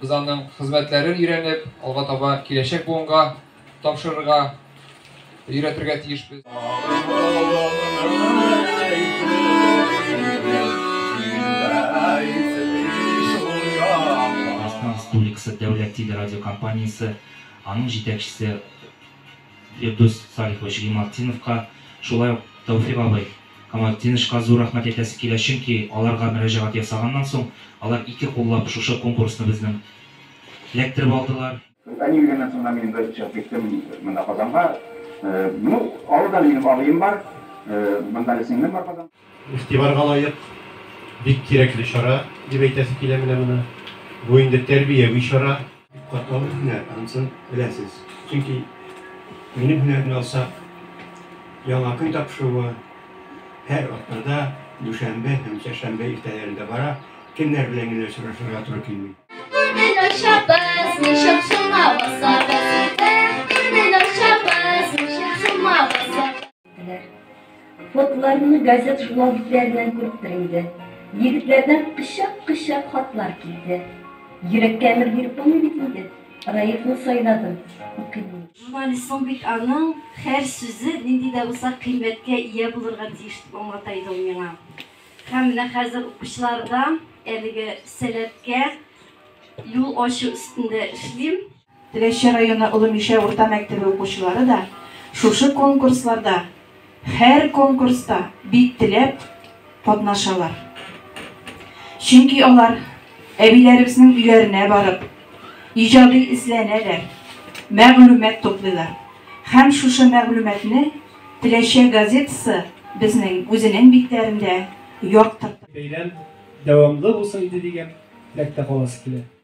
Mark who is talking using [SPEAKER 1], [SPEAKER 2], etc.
[SPEAKER 1] Без аның хезмәтләрен өйрәнеп, алга таба киләчәк буынга тапшырырга, өйрәтергә тиешбез. Татарстан
[SPEAKER 2] Республикасы Дәүләт телерадиокомпаниясе, аның җитәкчесе, Фирдүс Салихович Гыймалтдиновка, шулай ук Тәүфик абый Камалтдинычка зур рәхмәт әйтәсе килә, чөнки аларга мөрәҗәгать ясаганнан соң, алар ике куллап шушы конкурсны безнең эләктереп алдылар. Без әни үлгәннән соң да
[SPEAKER 3] мин инде чыгып киттем монда Казанга. Ну, авылда минем абыем бар, монда да сеңлем бар Казан. Игътибарга лаек,
[SPEAKER 4] бик кирәкле чара, дип әйтәсе килә менә моны. Бу инде тәрбияви чара. Катлаулы һөнәр,
[SPEAKER 5] анысын беләсез. Чөнки минем һөнәрне алсак, Яңа көн тапшыруы һәр атнада дүшәмбе һәм чәршәмбе иртәләрендә бара, кемнәр белән генә очрашырга туры килми. Күңел ачабыз, ничек
[SPEAKER 6] шуңа басабыз? Диләр. Фотларымны газет-журнал битләреннән күрепдер инде. Егетләрдән кычак-кычак хатлар килде. Йөрәккә әмер биреп булмый бит инде. Раифны сайладым. Укыйм мин. Журналист
[SPEAKER 7] соң бит аның һәр сүзе нинди дә булса кыйммәткә ия булырга тиеш дип аңлата иде ул миңа. Һәм менә хәзер укучыларда әлеге сәләткә юл ачу өстендә эшлим. Теләче районы
[SPEAKER 8] Олы Мишә урта мәктәбе укучылары да шушы конкурсларда, һәр конкурста бик теләп катнашалар. Чөнки алар әбиләребезнең өйләренә барып, иҗади эзләнәләр, мәгълүмат туплыйлар. Һәм шушы мәгълүматны Теләче газетасы безнең үзенең битләрендә яктырта. Бәйрәм
[SPEAKER 4] дәвамлы булсын иде дигән теләктә каласы килә.